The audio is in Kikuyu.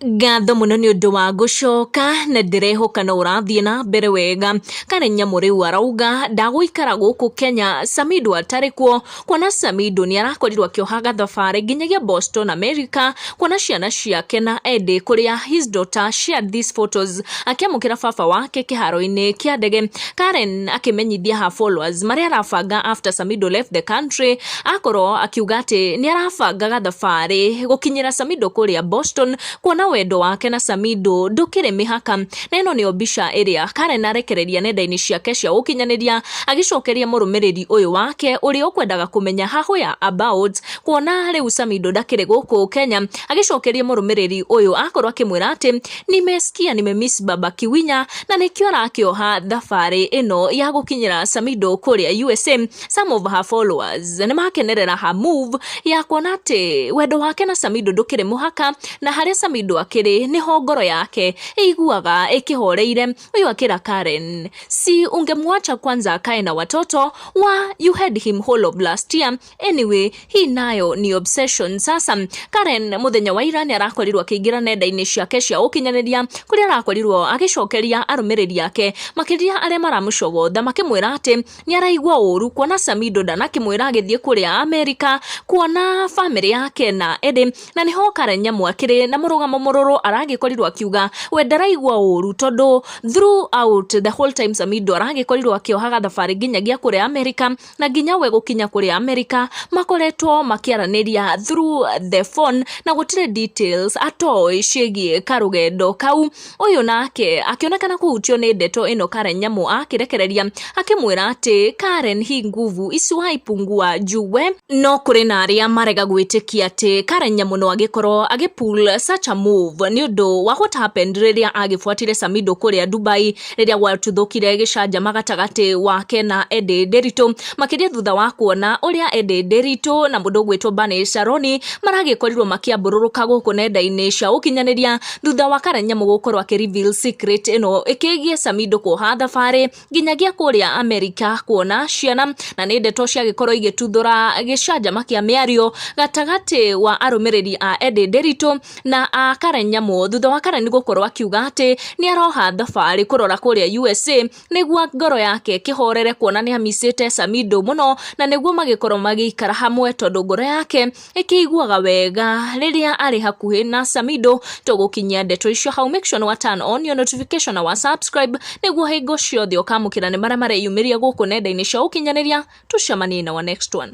Ngatho mũno nĩ ũndũ wa gũcoka, na ndĩrehoka no ũrathiĩ na mbere wega. Karen Nyamu rĩu arauga ndagũikara gũkũ Kenya Samido atarĩ kuo, kuona Samido nĩ arakorirwo akĩohaga thabarĩ nginyagia Boston America, kuona ciana ciake na endĩ kũrĩa his daughter shared these photos akĩamũkĩra baba wake kĩharo-inĩ kĩa ndege. Karen akĩmenyithia her followers marĩa arabanga after Samido left the country. Akorwo akiuga atĩ nĩ arabangaga thabarĩ gũkinyĩra Samido kũrĩa Boston, kuona wendo wake na Samido ndũkĩrĩ mĩhaka. Na ĩno nĩyo mbica ĩrĩa Karen arekereria nenda-inĩ ciake cia ũkinyanĩria agĩcokeria mũrũmĩrĩri ũyũ wake ũrĩa ũkwendaga kũmenya ha where about, kuona rĩu Samido ndakĩrĩ gũkũ Kenya, agĩcokeria mũrũmĩrĩri ũyũ akorwo akĩmwĩra atĩ nimesikia nimemiss baba Kiwinya, na nĩkĩo arakĩoha thabarĩ ĩno ya gũkinyĩra Samido kũrĩa USA. Some of her followers nĩ makenerera her move ya kuona atĩ wendo wake na Samido ndũkĩrĩ mũhaka na harĩa Samido akĩrĩ nĩho ngoro yake ĩiguaga ĩkĩhoreire. Ũyũ akĩra Karen si ungemwacha kwanza akae na watoto wa you had him whole of last year anyway hii nayo ni obsession. Sasa Karen mũthenya wa ira nĩ arakorirwo akĩingĩra nenda-inĩ ciake cia ũkinyanĩria kũrĩa arakorirwo agĩcokeria arũmĩrĩri ake makĩria arĩa maramũcogotha makĩmwĩra atĩ nĩ araigua ũru kuona Samido ndanakĩmwĩra agĩthiĩ kũrĩa Amerika kuona bamĩrĩ yake na Eddie na nĩho Karen Nyamu akĩrĩ na mũrũgamo mũrũrũ aragĩkorirwo akiuga we ndaraigua ũru tondũ throughout the whole time Samido aragĩkorirwo akĩohaga thabarĩ nginyagia kũrĩa Amerika na nginya we gũkinya kũrĩa Amerika makoretwo makĩaranĩria through the phone na gũtirĩ details atoĩ ciĩgiĩ karũgendo kau Ũyũ nake akĩonekana kũhutio nĩ ndeto ĩno Karen Nyamũ akĩrekereria akĩmwĩra atĩ Karen hi nguvu isuai pungua juwe. No kũrĩ na arĩa marega gwĩtĩkia atĩ Karen Nyamũ no agĩkorwo agĩ pull such a move nĩ ũndũ wa what happened rĩrĩa agĩbuatire Samido kũrĩa Dubai rĩrĩa gwatuthũkire gĩcanjama gatagatĩ wake na Eddie Nderitu makĩria thutha wa kuona ũrĩa Eddie Nderitu na mũndũ ũgwĩtwo Bane Sharoni maragĩkorirwo makĩambũrũrũka gũkũ nenda-inĩ cia ũkinyanĩria Thutha wa Karanyamũ gũkorwo akĩ reveal secret ĩno ĩkĩgiĩ Samido kuoha thabarĩ nginyagia kũrĩa Amerika kuona ciana, na nĩ ndeto ciagĩkorwo igĩtuthũra gĩcanjama kĩa mĩario gatagatĩ wa arũmĩrĩri a Eddie Nderitu na a Karanyamũ thutha wa Karani gũkorwo akiuga atĩ nĩ aroha thabarĩ kũrora kũrĩa USA nĩguo ngoro yake ĩkĩhorere kuona nĩ amicĩte Samido mũno na nĩguo magĩkorwo magĩikara hamwe tondũ ngoro yake ĩkĩiguaga wega rĩrĩa arĩ hakuhĩ na Samido tũgũkinyia ndeto icio hau make sure nĩ wa turn on your notification na wa subscribe nĩguo hingo ciothe ũkamũkĩra nĩ marĩa mareyumĩria gũkũ nenda-inĩ cia ũkinyanĩria tũcemanie in our next one